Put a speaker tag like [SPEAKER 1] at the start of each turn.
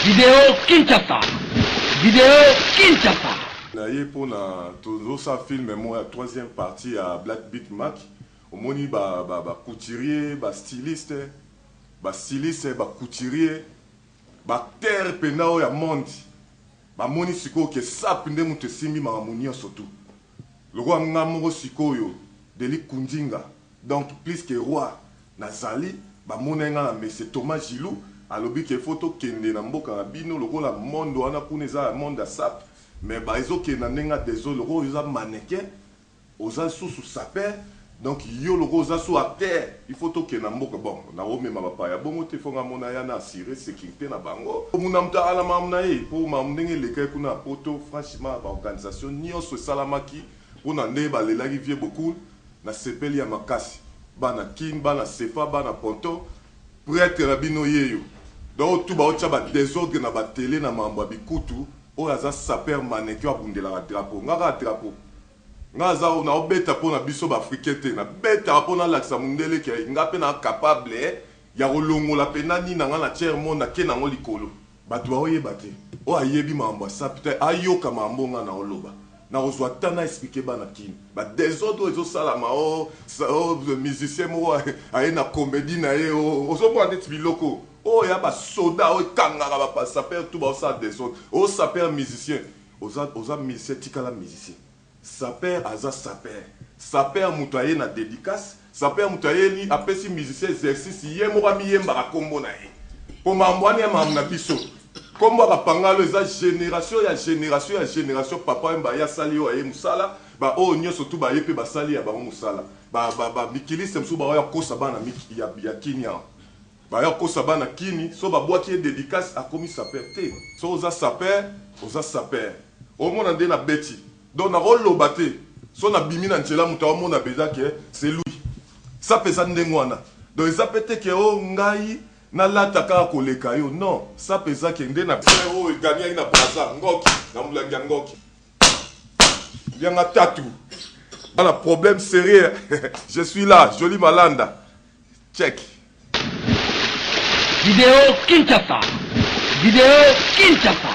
[SPEAKER 1] Video Kinshasa Video Kinshasa. na ye pona
[SPEAKER 2] tozo sa film moko ya troisième partie ya black beat mac omoni ba ba ba couturier ba styliste ba styliste ba couturier ba acteur pena oyo ya monde ba moni sikoyo ke sap nde mutu esimbi makambo nioso tout lokola nga moko sikoyo deli kundinga Donc plus que roi na zali ba monaki nga na messe Thomas Gilou alobi que faut to kende na mboka na bino lokola monde wana kuna eza ya monde ya sape mais ba ezo kende na ndenge ya desole lokola yo oza mannequin oza lisusu sapeur donc yo lokola oza sous acteur il faut to kende na mboka bon na ko mema ba paya bongo te faut nga mona ya na assure securite na bango mbu na moto ala makambo na ye po makambo ndenge elekaki kuna na poto franchement ba organisation nionso esalamaki pona ndenge ba lelaki vieux Bokul Na sepeli ya makasi bana kin bana sefa bana ponton pretre na bino yeyo donc otu bao tia ba desordre na ba tele na mambo ya bikutu oyo aza sapeur mannequin abundelaka drapeau nga kaka drapeau nga aza nao beta po na biso ba africain te na betaka po na lakisa mundele ke nga pe na capable ya ko longola pena nini na nga na tiers monde na ke na ngo likolo Batu bao yeba te. Oyo ayebi mambo ya sapi te ayoka mambo oyo nga nao loba. Nako zua temps na expliquer bana kin. Ba desordre oyo ezo salama ooh ooh musicien moko aye na comedie naye ooh ozo mona neti biloko oyo y'a ba soda oyo ekangaka ba sapeurs tout bao sala desordre. Oyo saper musicien oza oza musicien tikala musicien. Sapeur aza sapeur. Sapeur mutu aye na dedicace. Sapeur mutu ayeli apesi musicien exercice ye moko amiyembaka kombo na ye. Po mambo wana ya mambo na biso. Kombo ya ba pangalo eza generation ya generation ya generation papa wemba aye asali oyo ya ye musala ba oyo nionso tout baye pe basali ya bango musala. Ba ba mikiliste mususu baoya kokosa bana miki ya ya kin awa. Baye kokosa bana kin so babuaki ye dedicace akomi sapeur te. Soki oza sapeur oza sapeur. Omona nde na beti donc nako loba te soki na bimi na nzela mutu a mona penza que c'est lui sa pe eza ndenge wana donc eza pe te que oh ngai na lata kaka ko leka yo non sa pe eza que nde na Frère oyo eganiaki na Brazza ngoki na mulangi ya ngoki lia nga tatu ba na problème serieux je suis là Jolie Malanda check.
[SPEAKER 1] Video Kinshasa Video Kinshasa